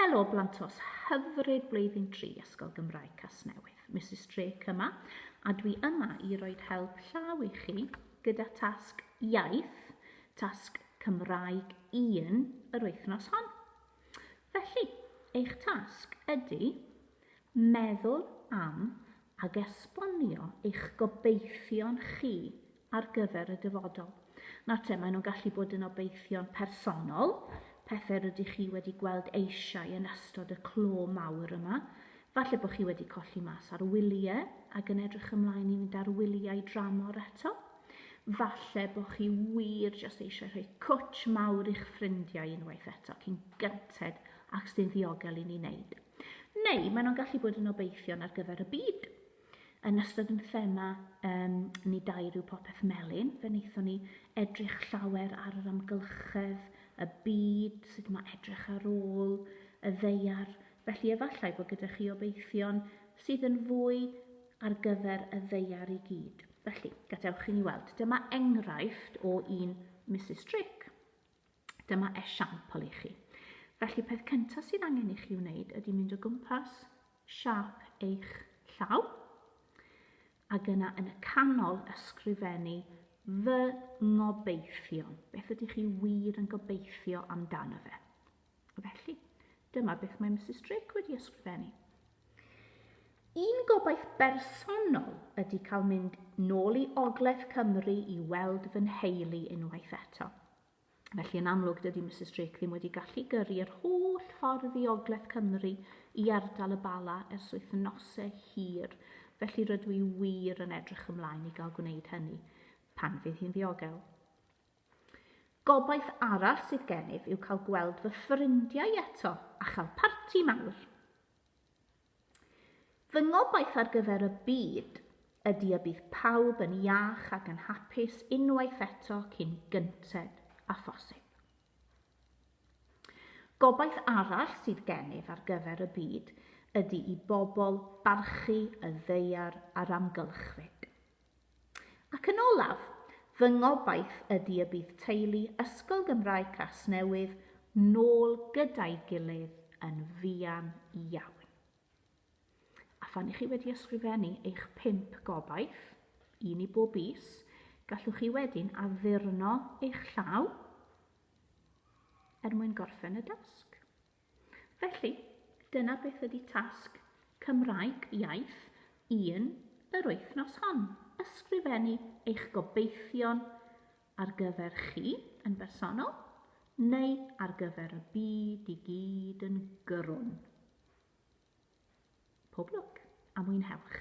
Helo Blantos, hyfryd blwyddyn tri Ysgol Gymraeg Casnewydd. Mrs Drake yma, a dwi yma i roi help llaw i chi gyda tasg iaith, tasg Cymraeg 1 yr wythnos hon. Felly, eich tasg ydy meddwl am ag esbonio eich gobeithion chi ar gyfer y dyfodol. Nawr te, maen nhw'n gallu bod yn obeithion personol, pethau rydych chi wedi gweld eisiau yn ystod y clo mawr yma. Falle bod chi wedi colli mas ar wyliau ac yn edrych ymlaen i fynd ar wyliau dramor eto. Falle bod chi wir jyst eisiau rhoi cwtch mawr i'ch ffrindiau unwaith eto cyn gynted ac sy'n ddiogel i ni wneud. Neu maen nhw'n gallu bod yn obeithion ar gyfer y byd. Yn ystod yn thema um, ni dair yw popeth melyn, fe wnaethon ni edrych llawer ar yr amgylchedd, y byd, sut mae edrych ar ôl, y ddeiar. Felly efallai bod gyda chi obeithion sydd yn fwy ar gyfer y ddeiar i gyd. Felly, gadewch i ni weld. Dyma enghraifft o un Mrs Drake. Dyma esiampl i chi. Felly, peth cyntaf sydd angen i chi wneud ydy mynd o gwmpas siap eich llaw, ac yna yn y canol ysgrifennu fy ngobeithion. Beth ydych chi wir yn gobeithio amdano fe? Felly, dyma beth mae Mrs Drake wedi ysgrifennu. Un gobaith bersonol ydy cael mynd nôl i Ogledd Cymru i weld fy nheulu unwaith eto. Felly yn amlwg dydy Misus Drake ddim wedi gallu gyrru yr holl ffordd i Ogledd Cymru i ardal y Bala ers wythnose hir, felly rydw i wir yn edrych ymlaen i gael gwneud hynny, pan fydd hi'n ddiogel. Gobaith arall sydd gennyf yw cael gweld fy ffrindiau eto a chael parti mawr. Fy ngobaith ar gyfer y byd ydy y bydd pawb yn iach ac yn hapus unwaith eto cyn gynted â phosib. Gobaith arall sydd gennyf ar gyfer y byd ydy i bobl barchu y ddaear a'r amgylchfyd. Ac yn olaf, fy ngobaith ydy y bydd teulu Ysgol Gymraeg Casnewydd nôl gyda'i gilydd yn fuan iawn. A phan i chi wedi ysgrifennu eich pump gobaith, un i bob is, gallwch chi wedyn addurno eich llaw er mwyn gorffen y dasg. Felly, dyna beth ydy tasg Cymraeg Iaith 1 yr wythnos hon, ysgrifennu eich gobeithion ar gyfer chi yn bersonol neu ar gyfer y byd i gyd yn gyrrwn. Pob lwc a mwynhewch!